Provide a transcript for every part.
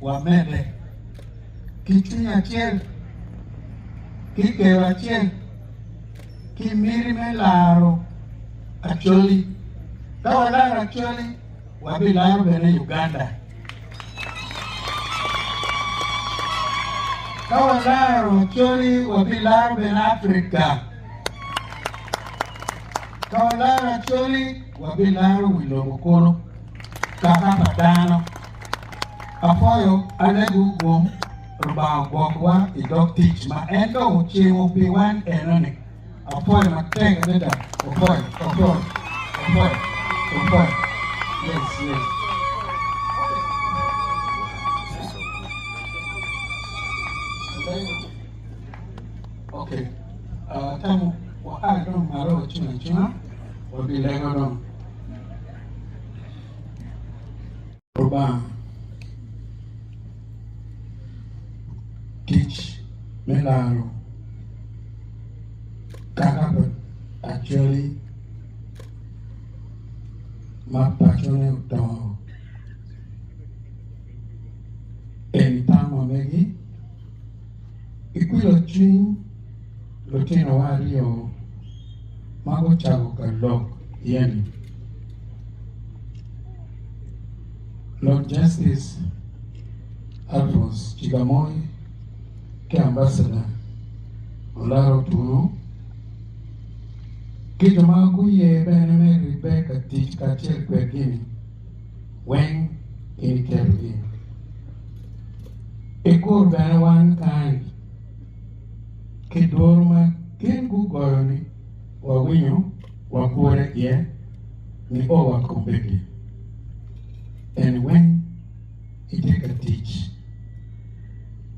wamedde ki cwiny acel, ki kero acel, ki miti me laro Acholi. Ka walaro Acholi, wabilaro bene Uganda. Ka walaro Acholi, wabilaro bene Afrika. Ka walaro Acholi, wabilaro wi lobo kulu. kaka pa dano. Apwoyo anagi wu gum, Rubanga ogwokwa i dog tic ma en dong ocimo pi wan enoni. Apwoyo matek adada. Opwoyo, opwoyo, opwoyo, opwoyo. Yes, yes. Okay. Uh, tamo, waka dong malo wacung acunga, wabilego dong. Lubanga. Tic me laro kaka pa Acholi ma pacone odongo en tamo megi Ki kwilo cwiny, lutinowa aryo ma gucako ka lok yeni, Lord Justice Alphonse Chigamoy ki Ambassador Olaro Otuno, ki jo ma guye bene me ribbe ka tic kacel kwedgi-ni, weng in iketo gi ikur bene wan kany ki duru ma gin gugoyo ni wa winyo wa kure iye ni o wa kombedi en weng itye ka tic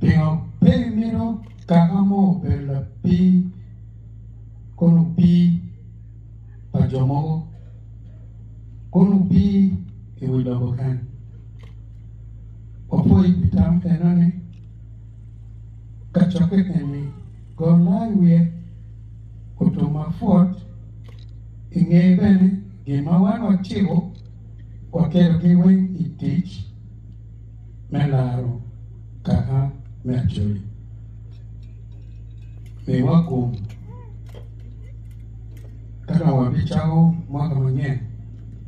pingo pe imino kaka mo obedo lapii kono pii pa jo mogo, kono wupir i wi lobo kany. Wapwoyo pi tam enoni kacokke eni, gol laa i wiye, otum ma pwot i ngeye bene gin ma wan waciko waketo gi weng i tic. me laro kaka me Acholi. Miwa kom ka dong wabicako mwaka manyen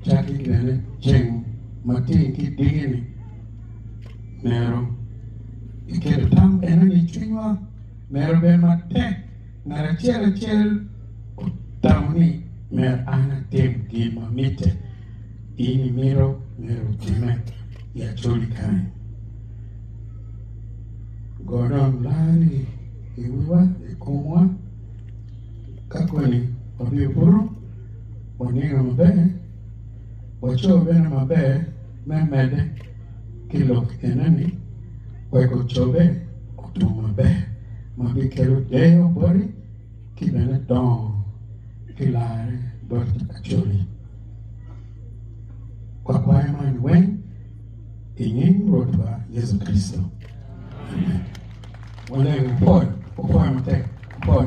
cakki bene ceng matin ki dingini mero iketo tam eno ni cwinywa mero bed matek Ngat acel acel otamo ni myero an atim gin ma mitte. In imito myero otime i acoli kany? Go dong larni i wiwa, i komwa, ka koni wabiro buto, waniga maber, waco bene maber me medde ki lok enoni. wek gucobbe otum maber ma bikelo deyo boti ki bene dongo ki larre boti acoli. Wakwayo man weng i nying Rwotwa Yecu Kricito. Amen. Waleng wupol, wupol matek, wupol.